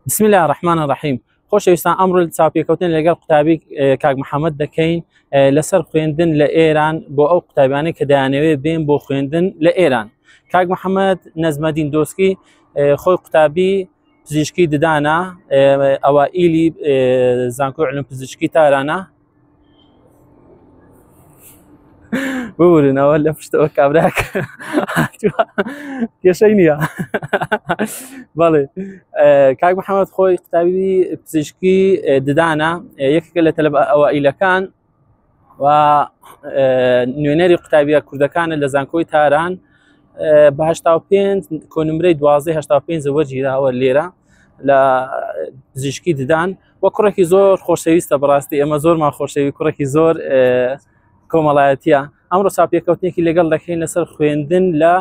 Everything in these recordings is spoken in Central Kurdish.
بسم الله الرحمن الرحیم خۆشەویستان ئەمڕۆ چاپێکەوتن لەگەڵ قوتابی کاک محەممەد دەکەین لەسەر خوێندن لە ئێران بۆ ئەو قوتابیانە کە دایانەوێ بێن بۆ خوێندن لە ئێران کاک محەممەد نەزمەدین دۆسکی خۆی قوتابی پزیشکی ددانە ئەوە ئیلی زانکۆ علم پزیشکی تارانە ببورنەوە لە پشتەوە کابراک کێشەی نییە بەڵێ کاک محەممەد خۆی قوتابی پزیشکی ددانە یەکێکە لە تەلب ئەوائیلەکان و نوێنەری قوتابیە کوردەکانە لە زانکۆی تاران بەهشتا پێنج کۆنمرەی دوازدە هشتا پێنج وەرگیراوە لێرە لە پزیشکی ددان و کوڕێکی زۆر خۆشەویستە بەڕاستی ئێمە زۆرمان خۆشەوی کوڕێکی زۆر کۆمەڵایەتە ئەمڕۆ چاپێکەوتنێکی لەگەڵ دەکەین لەسەر خوێندن لە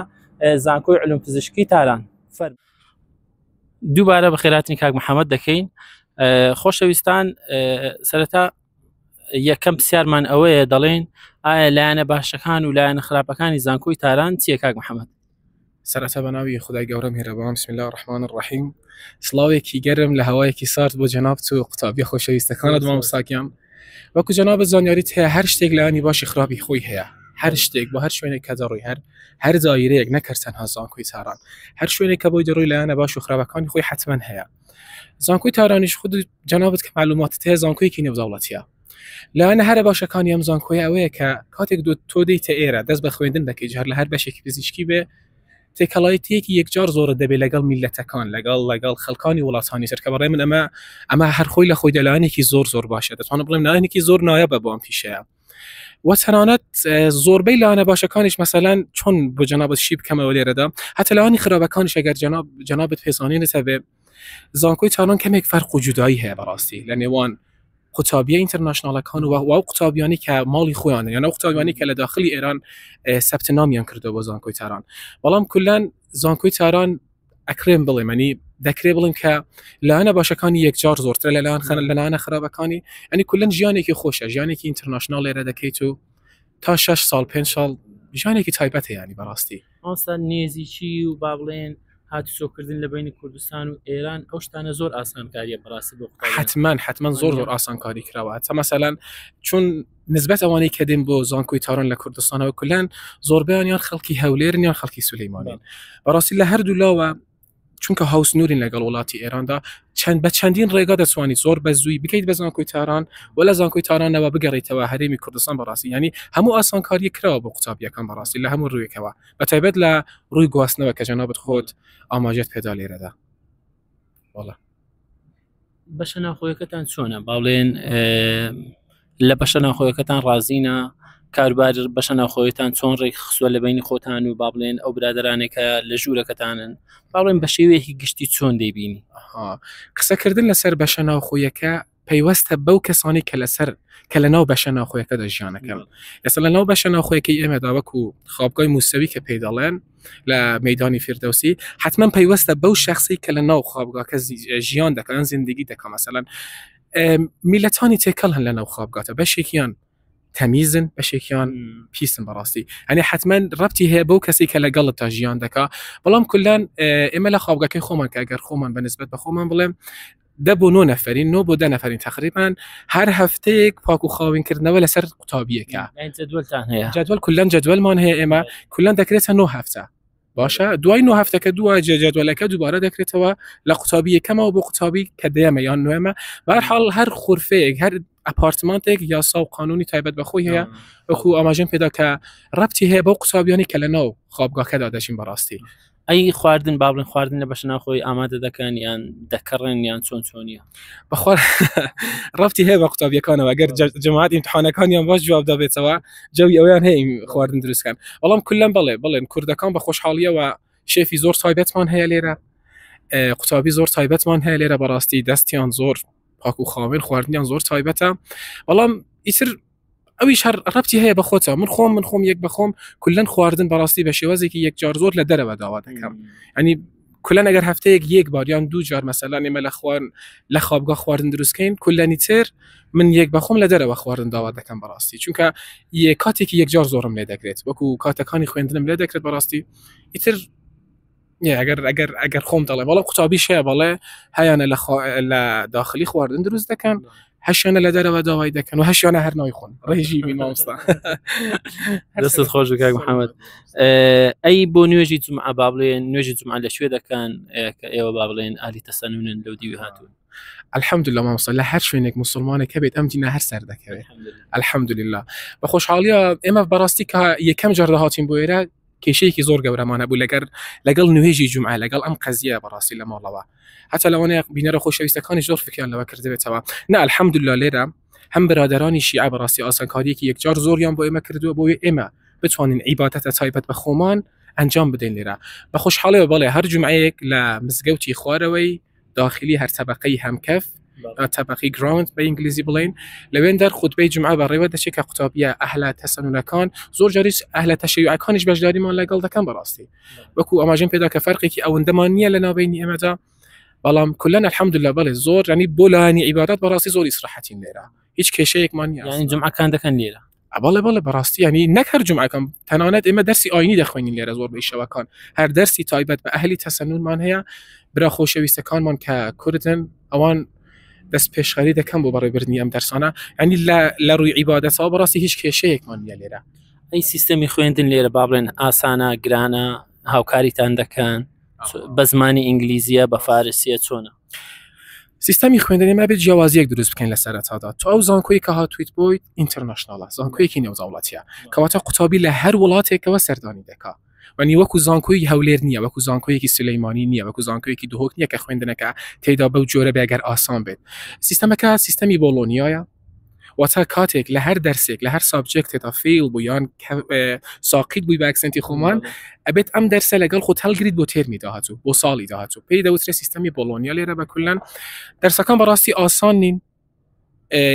زانکۆی علوم پزیشکی تاران فەر دووبارە بە خێراتنی کاک محەممەد دەکەین خۆشەویستان سەرەتا یەکەم پرسیارمان ئەوەیە دەڵێن ئایا لایەنە باشەکان و لایەنە خراپەکانی زانکۆی تاران چیە کاک محەممەد سەرەتا بەناوی خودای گەورە میهرەبان بسم اللە الرحمن الرحیم سڵاوێکی گەرم لە هەوایەکی سارد بۆ جەنابت و قوتابیە خۆشەویستەکانت مامۆستاکیان وەکو جەنابت زانیاریت هەیە هەر شتێک لایانی باشی خراپی خۆی هەیە هەر شتێک بۆ هەر شوێنێک کە دەڕۆی هەر هەر زایرەیەک نەکرد تەنها زانکۆی تاران هەر شوێنێک کە بۆی دەڕۆی لایەنە باش و خراپەکانی خۆی حتمما هەیە زانکۆی تارانیش خود جەنابەت کە معلوماتت هەیە زانکۆیەکی نێودەوڵەتیە لایەنە هەرە باشەکانی ئەم زانکۆیە ئەوەیە کە کاتێک دو تۆ دیتە ئێرە دەست بە خوێندن دەکەی جار لە هەر بەشێکی پزیشکی بێ تێکەڵایەتیەکی یەکجار زۆرە دەبێت لەگەڵ میلەتەکان لەگەڵ لەگەڵ خەڵکانی وڵاتانی سەرکە بەڕێ من ئەمە ئەمە هەر خۆی لە خۆی دەلانێکی زۆر زۆر باشە دەتوانم بڵێم نایەنێکی زۆر نایە بە بۆم پیشەیە وە تەنانەت زۆربەی لاەنە باشەکانیش مەسەلەن چۆن بۆ جەنابەت شی بکەمەوە لێرەدا هەتەلانی خراپەکانیش ئەگەر جەنابەت پێزانانی نەتەبێ زانکۆی تاران کەمێک فەرق و جودایی هەیە بەڕاستی لە نێوان قوتابیە ئینتەرناشنالەکان و و قوتابیانی کە ماڵی خۆیان یان ئەو قوتابیانی کە لە داخلی ئێران سەبت نامیان کردو بۆ زانکۆی تاران بەڵام کلان زانکۆی تاران ئەکرێن بڵێمەنی دەکرێ بڵێن کە لاەنە باشەکانی یەکجار زۆرترە لە لاان خەن لەلاانە خراپەکانی ئەنی کلەن ژیانێکی خۆشە ژیانێکی ئینتەرناشنال لێرە دەکەیت و تا 6 سال پێ ساڵ ژانێکی تایبەتە ینی بەڕاستی مامۆستا نێزیکی و با بڵێن هاتوچۆکردن لە بینی کوردستان و ئێران ئەو شتانە زۆر ئاسانکاریە بەڕاستی بۆ قوتابیان. حتمما حتمما زۆر زۆر ئاسانکاری کراوە تا مەسەلەن چون نسبەت ئەوانەی کە دێن بۆ زانکۆی تاران لە کوردستانەوە کولان زۆربیان یان خەڵکی هەولێرن یان خەڵکی سولەیمانین بەڕاستی لە هەردوو لاوە چونکە هاوسنوورین لەگەڵ وڵاتی ئێراندا چەند بە چەندین ڕێگا دەتوانیت زۆر بە زووی بکەیت بە زانکۆی تاران و لە زانکۆی تارانەوە بگەڕیتەوە هەرێمی کوردستان بەڕاستی ینی هەموو ئاسانکاری کراوە بۆ قوتابیەکان بەڕاستی لە هەموو ڕوویەکەوە بە تایبەت لە ڕووی گواستنەوە کە جەنابت خۆت ئاماژەت پێدا لێرەدا وەڵا. بەشە ناخۆیەکەتان چۆنە باڵێن لە بەشە ناخۆیەکەتان ڕازینە کاربار بەشە ناخۆیتان چۆن ڕێک خسووە لە بینی خۆتان و با بڵێن ئەو برادرانێکە لە ژوورەکەتانن باڵێن بە شێوەیەکی گشتی چۆن دەیبینی قسەکردن لەسەر بەشە ناوخۆیەکە پەیوەستە بەو کەسانی کە لەسەر کە لە ناو بەشە ناخۆیەکە دەژیانەکەم ئێستا لە ناو بەشە ناخۆیەکەی ئێمەدا وەکو خاپگای مووسەوی کە پێی دەڵێن لە مەدانی فردوسی حتمما پەیوەستە بەو شخصی کە لە ناو خوابگاکە ژیان دەکەن زیندگی دەکەم مثلا میلەتانی تێکەڵ هەن لە ناو خوابگاتە بەشێکیان تەمیزن بەشێکیان پیسن بەڕاستی ئەنی حتمما ڕەتی هەیە بەو کەسی کە لەگەڵت تا ژیان دەکا بەڵام کولان ئێمە لە خوابگەکەی خۆمان کە ئەگەر خۆمان بەنسبت بە خۆمان بڵێم دە بۆ نۆ نەفرین نۆ بۆ دە نەفرین تقریبان هەر هەفتەیەک پاک و خاوینکردنەوە لەسەر قوتابیەکە جدول کلەن جدولمان هەیە ئێمە کلەن دەکرێتە نۆ هەفتە باشە دوای نۆ هەفتەکە دووە جێجدولەکە دووبارە دەکرێتەوە لە قوتابی یەکەمەوە بۆ قوتابی کە دەیەمە یان نوێمە بەرحاڵ هەر خورفەیەک هەر ئەپارتمانتێک یاسا و قانونی تایبەت بەخۆی هەیە وەکو ئاماژەم پێدا کە ڕەتی هەیە بۆ قوتابیانی کە لە ناو خۆبگاکەدا دەژین بەڕاستی ئەی خواردن با بڵێن خواردن لە بەشە ناخۆی ئامادە دەکەن یان دەکەڕێن یان چۆن چۆنیە بەخۆ ڕفتی هەیە بە قوتابیەکانەوە گەر جەماعات ئیمتحانەکانیان باش جواب دابێتەوە جەوی ئەویان هەیە خواردن دروستکەن بەڵام کلم بڵێ بڵێن کوردەکان بە خۆشحاڵیەوە شێفی زۆر تایبەتمان هەیە لێرە قوتابی زۆر تایبەتمان هەیە لێرە بەڕاستی دەستیان زۆر پاکو خاوێن خواردنیان زۆر تایبەتە بەڵام ئیتر ئەویش هەر ڕەپی هەیە بە خۆتە من خۆم من خۆم یەک بەخۆم کلەن خواردن بەڕاستی بە شێوازێکی یەک جار زۆر لە دەرەوە داوا دەکەم ئەنی کلە نەگەر هەفتەیەک یەک باریان دوو جار مەسەلان ئێمە لە خوارن لە خوابگە خواردن دروستکەین کلەنی تر من یەک بەخۆم لە دەرەوە خواردن داوا دەکەم بەڕاستی چونکە یە کاتێکی یەکجار زۆرم لێ دەکرێت وەکو کاتەکانی خوێندنم لێ دەکرێت بەڕاستی ئیتر ئەگەر ئەگەر ئەگەر خۆم دەڵێ بەڵە قوتابی شێ بەڵێ هەیانە لە لە داخلی خواردن دروست دەکەن هەشیانە لە دەرەوە داوای دەکەن و هەشیانە هەرنەوەی خۆن ڕێژی مامستا دەست خۆش کاک محەممەد ئەی بۆ نوێژی جمعە با بڵێ نوێژی جمعە لە شوێ دەکەن کە ئێوە با بڵێن ئالی تەسەنونن لەو دیوی هاتوون الحمد لله مامسە لە هەر شوێنێک مسلمانێک هەبێت ئەم دینا هەر سەر دەکەوێت الحمد لله بە خۆشحاڵیە ئێمە بەڕاستی کە یەکەم جەردە هاتین بۆ ئێرە کێشەیەکی زۆر گەورەمان هەبوو لەگەر لەگەڵ نوێژی جمعە لەگەڵ ئەم قەزیە بەڕاستی لە ماڵەوە هەتا لەوانەیە بینەرە خۆشەویستەکانی زۆر فکریان لەوە کردبێتەوە نا الحمدلله لێرە هەم برادرانی شیعە بەڕاستی ئاسانکاریەکی یەکجار زۆریان بۆ ئێمە کردووە بۆیە ئێمە بتوانین عیباتەتە تایبەت بە خۆمان ئەنجام بدەین لێرە بە خۆشحاڵەوە بەڵێ هەر جمعەیەک لە مزگەوتی خوارەوەی داخلی هەر تەبقەی هەمکەف یا تەبقی گراوند بە ئینگلیزی بڵین لەوێن دەر خوتبەی جمعە بەڕێوە دەچێت کە قوتابیە ئەهلا تەسەنونەکان زۆر جاریش ئەهلە تەشیعەکانیش بەشداریمان لەگەڵ دەکەم بەڕاستی وەکو ئەماژم پێدا کە فەرقێکی ئەوەندەمان نییە لە ناوبینی ئێمەدا بەڵام کلەن الحمدلله بەڵێ زۆر ینی بۆ لایەنی عیبادات بەڕاستی زۆر ئیسراحەتین لێرە هیچ کێشەیەکمان یانی جمعەکان دەکەن لێرە ئەبڵێ بڵێ بەڕاستی ینی نەک هەر جمعەکەم تەنانەت ئێمە دەرسی ئاینی دەخوێنین لێرە زۆر بەیشەوەکان هەر دەرسی تایبەت بە ئەهلی تەسەنونمان هەیە برا خۆشەویستەکانمان کە کوردن ئەوان دەست پێشخەری دەکەم بۆ بەڕێبرنی ئەم دەرسانە ئەنی لە ڕووی عیباەتەوە بەڕاستی هیچ کێشەیەکمان نیە لێرە ئەی سیستەمی خوێندن لێرە با بڵێن ئاسانە گرانە هاوکاریتان دەکەن بە زمانی ئینگلیزیە بە فارسیە چۆنە سیستمی خوێندنی مابێت جیاوازیەک دروست بکەین لە سەرتادا تو ئەو زانکۆی کە هاتویت بۆی ئینتەرنشنناڵە زانکۆیەکی نێوزاوڵاتیە کەواتە قوتابی لە هەر وڵاتێکەوە سەردانی دەکا وەنی وەکو زانکۆی هەولێر نییە وەکو زانکۆیەکی سلەیمانی نییە وەکو زانکۆیەکی دهۆک نییە کە خوێندنەکە تێدا بەو جۆرە بێگەر ئاسان بێت سیستەمەکە سیستەمی بۆڵۆنیایە واتە کاتێک لە هەر دەرسێک لە هەر سابجێکتێتا فیل بوو یان ساقیت بووی باکسنتی خۆمان ئەبێت ئەم دەرسە لەگەڵ خۆت هەلگریت بۆ تێرمی داهاتوو بۆ ساڵی داهاتوو پێی دەوترێت سیستمی بۆلۆنیا لێرە بە کولەن دەرسەکان بەڕاستی ئاسان نین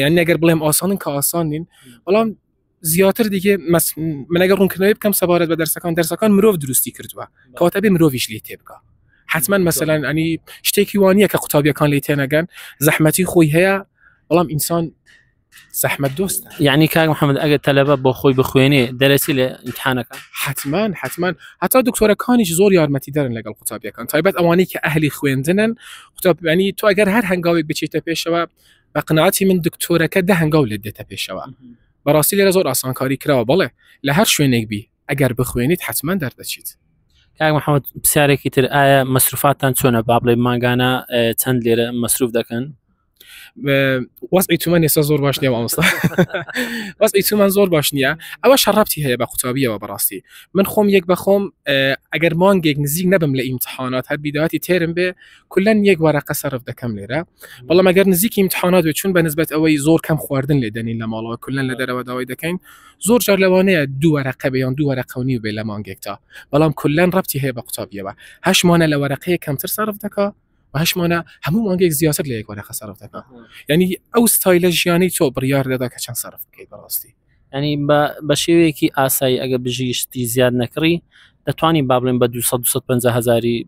یان نەگەر بڵێم ئاسانن کە ئاسان نین بەڵام زیاتر دیگە منەگە ڕوونکردنەوەی بکەم سەبارەت بە دەرسەکان دەرسەکان مرۆڤ دروستی کردووە کەواتە بێ مرۆڤش لی تێ بکە حتمما مەسەلاەن ئەنی شتێکی وانە کە قوتابیەکان لی تێنەگەن زەحمەتی خۆی هەیە بەڵام ئینسان زەحمەت دۆست یعنی کاک محەممەد ئەگە تەلەبە بۆ خۆی بخوێنێ دەرەسی لە امتحانەکە حتمما حتمما هەتا دکتۆرەکانیش زۆر یارمەتی دەرن لەگەڵ قوتابیەکان تایبەت ئەوانەی کە ئەهلی خوێندنن قوتابیانی تو ئەگەر هەر هەنگاوێک بچیتە پێشەوە بە قناعەتی من دکتۆرەکە دە هەنگاو لێت دێتە پێشەوە بەڕاستی لێرە زۆر ئاسانکاری کراوە بڵێ لە هەر شوێنێک بی ئەگەر بخوێنیت حتمما دەردەچیت کاک محەممەد پرسیارێکی تر ئایا مەسروفاتان چۆنە با بڵێ ماگانە چەند لێرە مەسروف دەکەن وەزعی تومان ێستا زۆر باش نیە ئەمستا وەزعی تومان زۆر باش نییە ئەوە شەڕەتی هەیە بە قوتابیەوە بەڕاستی من خۆم یەک بەخۆم ئەگەر مانگێک نزیک نەبم لە ئیمتحانات هەر بیداتی تێرم بێ کولەن یەک وەرەقە سەرف دەکەم لێرە بەڵام ئەگەر نزیکی امتحانات بێت چون بەنسبەت ئەوەی زۆر کەم خواردن لێ دەنین لە ماڵەوە کولەن لە دەرەوە داوای دەکەین زۆر جار لەوانەیە دوو وەرەقە بێیان دوو وەرەقەونی و بێ لە مانگێکتا بەڵام کولەن ڕەتی هەیە بە قوتابیەوە هەشمانە لە وەرەقەیە کەمتر سەرف دەکا هەشمانە هەموو مانگێک زیاتر لە یەک وەرەقە سەرف دەکا یعنی ئەو ستایلە ژیانی تۆ بڕیار دەدا کە چەند سەرف بکەیت بەڕاستی یانی بە بە شێوەیەکی ئاسایی ئەگە بژیشتی زیاد نەکڕی دەتوانانی با بڵێن بە 250 هزاری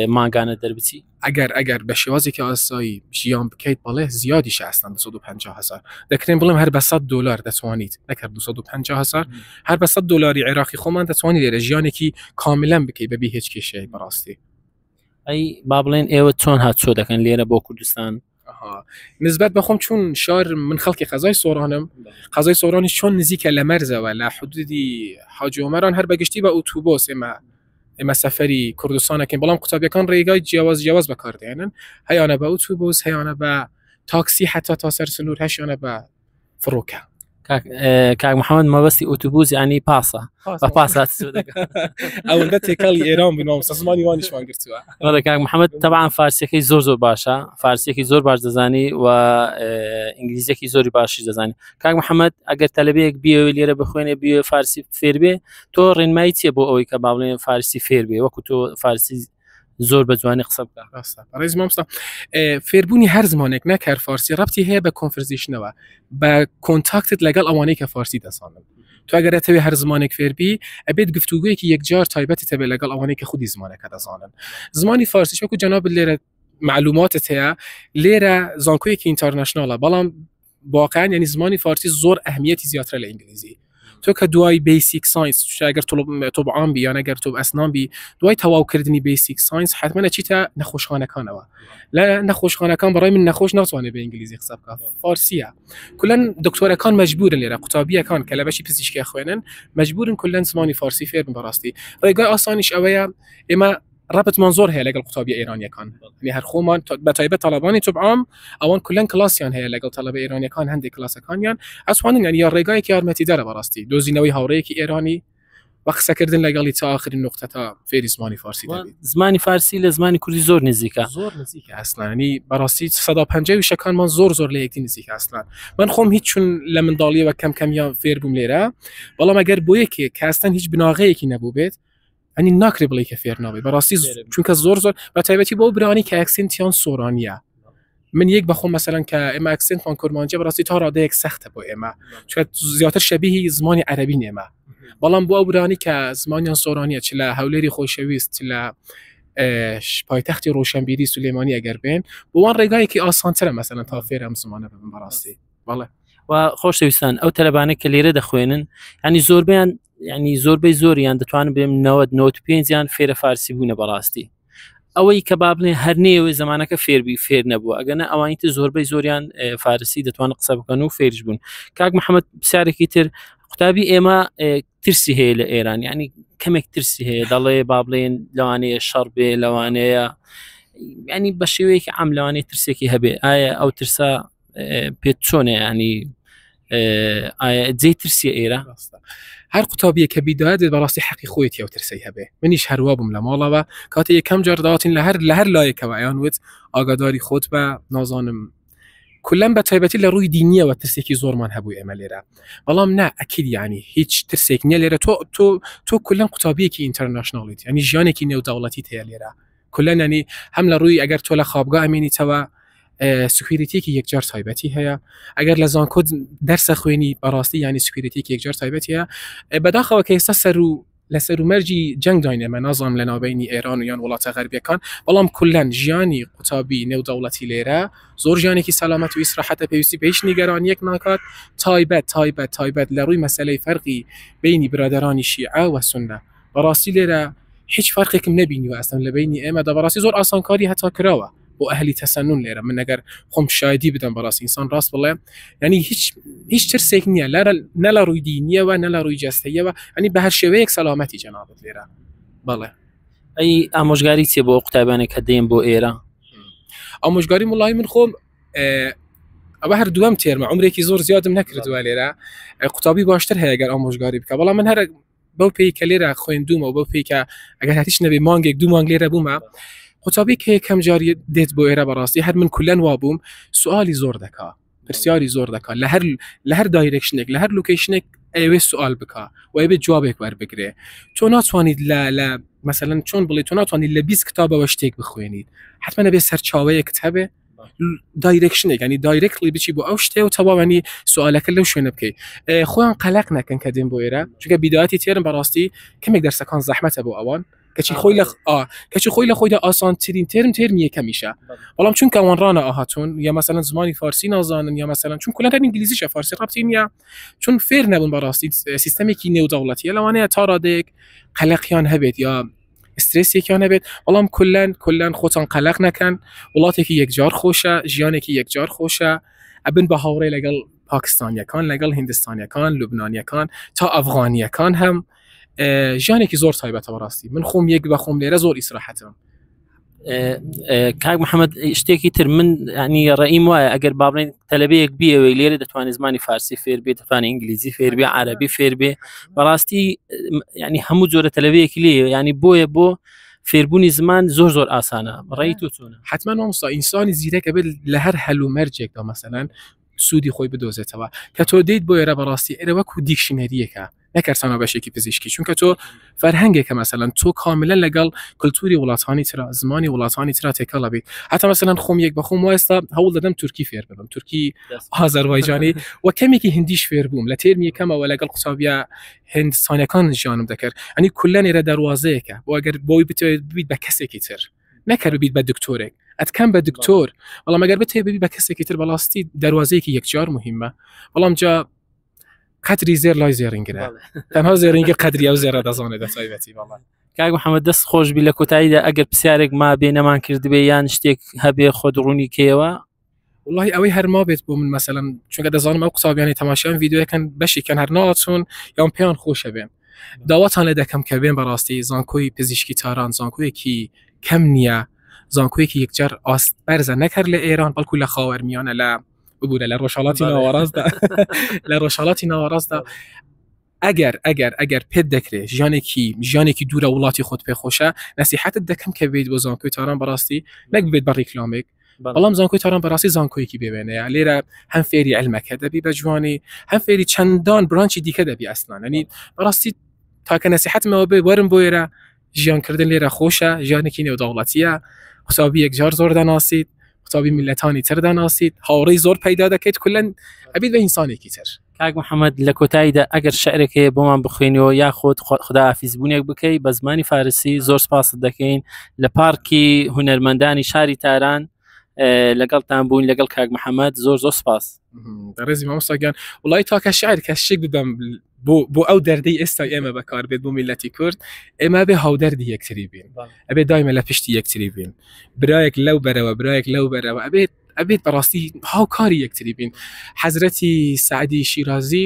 ماگانە دەربچی ئەگەر ئەگەر بە شێوازێکی ئاسایی ژیان بکەیت بەڵێ زیادی شستان 250 هزار دەکرێن بڵێم هەر بە 100 دلار دەتوانیت نەکە 250 هزار هەر بە 100 دلاری عێراقی خۆمان دەتوانانی لێرە ژیانێکی کاملەن بکەیت بەبی هیچ کێشەیە بەڕاستی ئەی با بڵێن ئێوە چۆن هاتچۆ دەکەن لێرە بۆ کوردستان ئەها نسبەت بەخۆم چون شار من خەڵکی قەزای سۆرانم قەزای سۆرانی چۆن نزیکە لە مەرزەوە لە حدودی حاجۆمەران هەر بەگشتی بە ئوتوبۆس ئێمە ئێمە سەفەری کوردستانەکەین بەڵام قوتابیەکان ڕێگای جیاواز جیاواز بەکاردێنن هەیانە بە ئوتوبۆس هەیانە بە تاکسی حتا تا سەر سنوور هەشیانە بە فڕوکە کاک محەممەد مەبەستی ئۆتوبوس ینی پاسە بە پاسات ئەوەندە تێکەڵی ئێران بنەوە سەزمانی وانیشمان گرتووە ڕێ کاک محەممەد تەبان فارسیەکەی زۆر زۆر باشە فارسیەکی زۆر باش دەزانی و ئینگلیزیەکی زۆری باشی دەزانانی کاک محەممەد ئەگەر تەلبەیەک بیەوە لێرە بخوێنێ بێ فارسی فێربێ تۆ ڕێنمایی چیە بۆ ئەوەی کە باڵێن فارسی فێربێ وەکو تۆ فارسی زۆر بە جوانی قسە بکە ڕێز مامستا فێربوونی هەر زمانێک نەکار فارسی ڕەتی هەیە بە کۆنفرزیشنەوە بە کۆنتاکتت لەگەڵ ئەوانەی کە فارسی دەسانن تواگەرەتەوێ هەر زمانێک فێربی ئەبێت گفتوگویەکی یەکجار تایبەتی تەبێ لەگەڵ ئەوانەی کە خودی زمانەکە دەزانن زمانی فارسی شوکو جەناب لێرە معلوماتت هەیە لێرە زانکۆیەکی ئینتەرنشنناڵە بەڵام واقعا یعنی زمانی فارسی زۆر ئەهمیەتی زیاترە لە ئینگلیزی تۆ کە دوای بیسیک ساینس شاگەر تۆب عام بی یانەگەر تۆب ئەسنان بی دوای تەواوکردنی بیسیک ساینس حتممە چیتە نەخۆشخانەکانەوە لە نەخۆشخانەکان بەڕای من نەخۆش ناتوانێت بە ئینگلیزی قسە بکە فارسیە کلەن دکتۆرەکان مجبورن لێرە قوتابیەکان کە لە بەشی پزیشکی خوێنن مجبورن کلەن زمانی فارسی فێرن بەڕاستی ڕێگای ئاسانیش ئەوەیە ئێمە ڕەبتمان زۆر هەیە لەگەڵ قوتابیە ئێرانیەکان لێ هەر خۆمان بەتایبە تەڵەبانی توبعام ئەوان کلەن کلاسیان هەیە لەگەڵ تەلەبە ئێرانیەکان هەندێک کلاسەکانیان ئەسوانین یان یا ڕێگایەکی یارمەتی دەرە بەڕاستی دۆزینەوەی هاوڕەیەکی ئێرانی بە قسەکردن لەگەڵی تا آخرین نقطە تا فێری زمانی فارسی زمانی فارسی لە زمانی کوردی زۆر نزیکە زۆر نزیکە ئەسلانی بەڕاستی 150 وشەکانمان زۆر زۆر لە یەکتی نزیک ئەسلان من خۆم هیچ چون لە منداڵیەوە کەم کەمیان فێر بووم لێرە بەڵام ئەگەر بۆ یەکێک کاستن هیچ بناغەیەکی نەبوو بێت ئەنی ناکری بڵی کە فێرناوی بەڕاستی چونکە زۆر زۆر بە تایبەتی بۆ برانی کە ئەکسنتیان سۆرانە من یەک بەخۆ مەسەرەن کە ئێمە ئەکسنتمان کورمانجی بەڕاستی تا ڕادەیەک سەختە بۆ ئێمە زیاتر شەبیهی زمانی عەربی نێمە بەڵام بۆ ئەوبرانی کە زمانیان سۆرانە چ لە هەولێری خۆشەویست لە پایتەختی ڕۆشنبیری سولێمانی ئەگەر بێن بۆوان ڕێگایەکی ئاسانترە مەسەن تا فێرم زمانە بم بەڕاستی بەڵێ و خۆشەویستان ئەو تەلبانە کە لێرە دەخوێنن ینی زۆربیان ینی زۆربەی زۆریان دەتوانم بێم 95 یان فێرە فارسی بوونە بەڕاستی ئەوەی کە بابنێ هەر نێوێ زمانەکە فێربی فێر نەبووە ئەگەنە ئەوانی تر زۆربەی زۆریان فارسی دەتوانن قسە بکەن و فێرش بوون کاک محەممەد پرسیارێکی تر قوتابی ئێمە ترسی هەیە لە ئێران ینی کەمێک ترسی هەیە دەڵێ با بڵێن لەوانەیە شەڕ بێ لەوانەیە ینی بە شێوەیەکی ئەم لەوانەیە ترسێکی هەبێ ئایا ئەو ترسە پێت چۆنێ ینی جێ ترسی ئێرە هەر قوتابیە کە بیدا دێت بەڕاستی حەقی خۆیت یا ترسی هەبێ منیش هەروە بووم لە ماڵەوە کاتی یەکەم جار داواتین لە هەر لە هەر لایەکەوە ئەیان وت ئاگاداری خۆت بە نازانم کلم بە تایبەتی لە ڕووی دینیەوە ترسێکی زۆرمان هەبوو ئێمە لێرە بەڵام نا ئەکیل ینی هیچ ترسێک نیە لێرە تۆ تۆ تۆ کلم قوتابیەکی ئینتەرنشنناڵیت ینی ژیانێکی نێوداوڵەتی هەیە لێرە کلەن ینی هەم لە ڕووی ئەگەر تۆ لە خوابگا ئەمێنیتەوە سکویریتێکی یەکجار تایبەتی هەیە ئەگەر لە زانکۆ دەرسە خوێنی بەڕاستی ینی سکویریتێکی یەکجار تایبەت هەیە بەداخەوە کە ئێستا سەر و لە سەرومەرجی جەنگ داینێمە نازانم لە ناوبینی ئێران و یان وڵاتە غەربیەکان بەڵام کولەن ژیانی قوتابی نێودەوڵەتی لێرە زۆر ژیانێکی سەلامەت و ئیسراحەتە پێویستی بە هیچ نیگەرانیەک ناکات تایبەت تایبەت تایبەت لە ڕووی مەسلەی فەرقی بینی برادرانی شیعە وە سنە بەڕاستی لێرە هیچ فەرقێکم نەبینیوە ئەستەم لە بینی ئێمەدا بەڕاستی زۆر ئاسانکاری هەتا کراوە بۆ ئەهلی تەسەنون لێرە من نەگەر خۆم شایدی بدەم بەڕاستی ئینسان ڕاست بڵێ ینی هیچ هیچ ترسێک نییە لە نە لە ڕووی دینیەوە نە لە ڕووی جستەیەوە ئەنی بە هەر شێوەیەک سەلامەتی جەنابەت لێرە بەڵێ ئەی ئامۆژگاری چێ بۆ قوتابانێک کە دێن بۆ ئێرە ئامۆژگاری مڵی من خۆم ئەوە هەر دوم تێرمە عمرێکی زۆر زیادم نەکردووە لێرە قوتابی باشتر هەیە گەر ئامۆژگاری بکە بەڵام من هەر بەو پێی کە لێرە خوێندومەوە بەو پێی کە ئەگەر هاتیش نەبێ مانگێک دوو مانگ لێرە بوومە قوتابی کە یەکەم جاری دێت بۆ ئێرە بەڕاستی هەر من کولەن وا بووم سوالی زۆر دەکا پرسیاری زۆر دەکات لە هەر لە هەر دایرێکشنێک لە هەر لوکیشنێک ئەوێ سوال بکە و ئەبێت جوابێک وەربگرێ تۆ ناتوانیت لە لە مەسەن چۆن بڵێ تۆ ناتوانانی لە بیست کتابەوە شتێک بخوێنیت حتممە بێ سەرچاوەیەکت هەبێ دایرێکشنێک ینی دایرێکلی بچی بۆ ئەو شتێ و تەواوانی سوالەکە لەو شوێنە بکەیت خۆیان قەلق نەکەن کە دێن بۆ ئێرە چگە بیداتی تێرم بەڕاستی کەمێک دەرسەکان زەحمەتە بۆ ئەوان کەچی خۆی لە کەچی خۆی لە خۆیدا ئاسانترین ترم ترم یەکەمیشە بەڵام چونکە ئەوان ڕانە ئاهاتون یا مەسەن زمانی فارسی نازانن یا مەسەن چون کولەکە ئینگلیزیشە فارسی ڕاپتی نیە چون فێر نەبوون بەڕاستی سیستمێکی نێودەوڵەتیە لەوانەیە تا ڕادێک قەلەقیان هەبێت یا ئسترێسێکیان نەبێت بەڵام کلەن کلەن خۆتان قەلەق نەکەن وڵاتێکی یەکجار خۆشە ژیانێکی یەکجار خۆشە ئەبن بە هاوڕێ لەگەڵ پاکستانیەکان لەگەڵ هندستانیەکان لوبنانیەکان تا ئەفغانیەکان هەم ژیانێکی زۆر تایبەتەوە ڕاستی من خۆم یەک بەخۆم لێرە زۆر ئیسراحەتم کاک محەممەد شتێکی تر من ینی ڕێیم وایە ئەگەر باڵێن تەلبەیەک بیەوەی لێرە دەتوانێت زمانی فارسی فێر بێت دەتوانانی ئینگلیزی فێربێ عربی فێربێ بەڕاستی ینی هەموو جۆرە تەلبەیەکی لێ ینی بۆیە بۆ فێربوونی زمان زۆر زۆر ئاسانە ڕێی تو چۆن حتمما مامستا ئینسانی زیرەکە بێت لە هەر هەل و مەرجێکەوە مەسەلاەن سوودی خۆی بدۆزێتەوە کە تۆ دەیت بۆ ێرە بەڕاستی ئێرە وەکو دیکشنەریەکە نەکەر تەنها بەشێکی پزیشکی چونکە تۆ فەرهەنگێکە مەسەەن تۆ کاملە لەگەڵ کللتوری وڵاتانی تررا زمانی وڵاتانی تررا تێکەڵە بیت حتا مەسەەن خۆم یەک بەخۆم وایستا هەوڵ دەدەم تورکی فێر ببم تورکی ئازەربایجانی و کەمێکی هندیش فێر بووم لە تێرمی کەمەوە لەگەڵ قوتابیا هندستانەکان ژیانم دەکرد ئەنی کولە نێرە دەواازەیەەکە بۆ ئەگەر بۆی بتێت بیت بە کەسێکی تر نەکەر بیت بە دکتۆرێک ئەتکەم بە دکتۆر بەڵام ئەگەر بتێ ببی بە کەسێکی تر بەڵاستی دەواازەیەکی یەکجار مهمە بەڵام جا قەتری زێر لای زێرینگرە تەنها زێرینگە قەدری ئەو زێرە دەزانێت دەسایبەتی بەڵام کاک محەممەد دەست خۆش بی لە کۆتاییدا ئەگەر پرسیارێک ما بێ نەمان کردبێ یان شتێک هەبێ خۆ دڕوونی کەیەوە واللهی ئەوەی هەرما بێت بۆ من مەسەلم چونکە دەزانم ئەو قوتابیانی تەماشایان یددیوەکەن بەشیکەن هەر ناچون یان پێیان خۆشە بێن داواتان لە دەکەم کە بێن بەڕاستی زانکۆی پزیشکی تاران زانکۆیەکی کەم نییە زانکۆیەکی یەکجار ئاست بەرزە نەکرد لە ئێران بەڵکو لە خاوەرمیانە لە بگورە لە ڕۆژهڵاتی ناوەڕاستدا لە ڕۆژهڵاتی ناوەڕاستدا ئەگەر ئەگەر ئەگەر پێت دەکرێت ژیانێکی ژیانێکی دوورە وڵاتی خۆت پێ خۆشە نسیحتت دەکەم کە بێت بۆ زانکۆی تاران بەڕاستی نەک بێت بە ڕیکلامێک بەڵام زانکۆی تاران بەڕاستی زانکۆیەکی بێوێنەیە لێرە هەم فێری علمەکە دەبی بە جوانی هەم فێری چەندان برانچی دیکە دەبی ئەسنانەنی بەڕاستی تاکە نسیحتمەوە بێ وەرم بۆ ئێرە ژیانکردن لێرە خۆشە ژیانێکی نێودەوڵەتیە قوتابی یەکجار زۆر دەناسیت قوتابی میلەتانی تر دەناسیت هاوڕی زۆر پەیدا دەکەیت کلەن ئەبیت بە ئینسانێکی تر کاک محەممەد لە کۆتاییدا ئەگەر شعرێک هەیە بۆمان بخوێنەوە یاخود خدا ئافیزبوونێک بکەیت بە زمانی فارسی زۆر سپاست دەکەین لە پارکی هونەرمەندانی شاری تاران لەگەڵتان بوون لەگەڵ کاک محەممەد زۆر زۆر سپاس ڕێزی مامۆستاگیان وڵی تاکە شعر کە شێک بدەم بۆ بۆ ئەو دەردەی ئێستا ئێمە بەکار بێت بۆ میلەتی کورد ئێمە بێ هاودەردی یەکتری بین ئەبێ دایمە لە پشتی یەکتری بین برایەک لەو بەرەوە برایەک لەو بەرەوە ئەبێت ئەبێت بەڕاستی هاوکاری یەکتری بین حەزرەتی سعدی شیرازی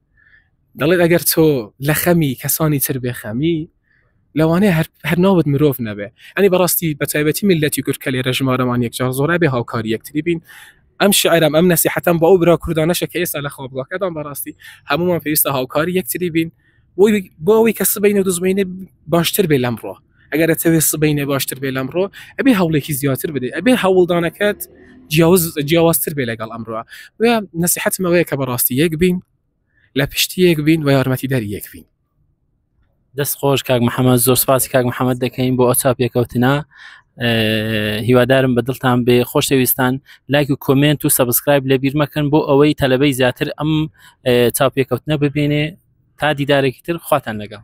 دەڵێت ئەگەر تۆ لە خەمی کەسانی تر بێ خەمی لەوانەیە هەر ناوت مرۆڤ نەبێ ئەنی بەڕاستی بە تایبەتی میلەتی کورد کە لێرە ژمارەمان یەکجار زۆرا بێ هاوکاری یەکتری بین ئەم شعرم ئەم نەسی حتم بۆ ئەو برا کوردانەشە کە ئێستا لە خۆ بڵۆکەدان بەڕاستی هەمومان پێویستە هاوکاری یەکتری بین بۆی بۆەوەی کە سبینە دزمینە باشتر بێ لەمڕۆ ئەگەر ئەتەوێت سبەینێ باشتر بێ لەمڕۆ ئەبێ هەوڵێکی زیاتر بدەیت ئەبێ هەوڵدانەکەت جیاوز جیاوازتر بێ لەگەڵ ئەمڕۆ و نسیحەتمەوەیە کە بەڕاستی یەک بین لە پشتی یەک بین و یارمەتی دەری یەک بین دەست خۆش کاک محەممەد زۆر سپاسی کاک محەممەد دەکەین بۆ ئەوچاپ پێکەوتنا هیوادارم بە دڵتان بێ خۆشەویستان لایک و کۆمنت و سبسکرایب لە بیرمەکەن بۆ ئەوەی تەلبەی زیاتر ئەم چاپێکەوتنە ببینێ تا دیدارێکی تر خواتان لەگەڵ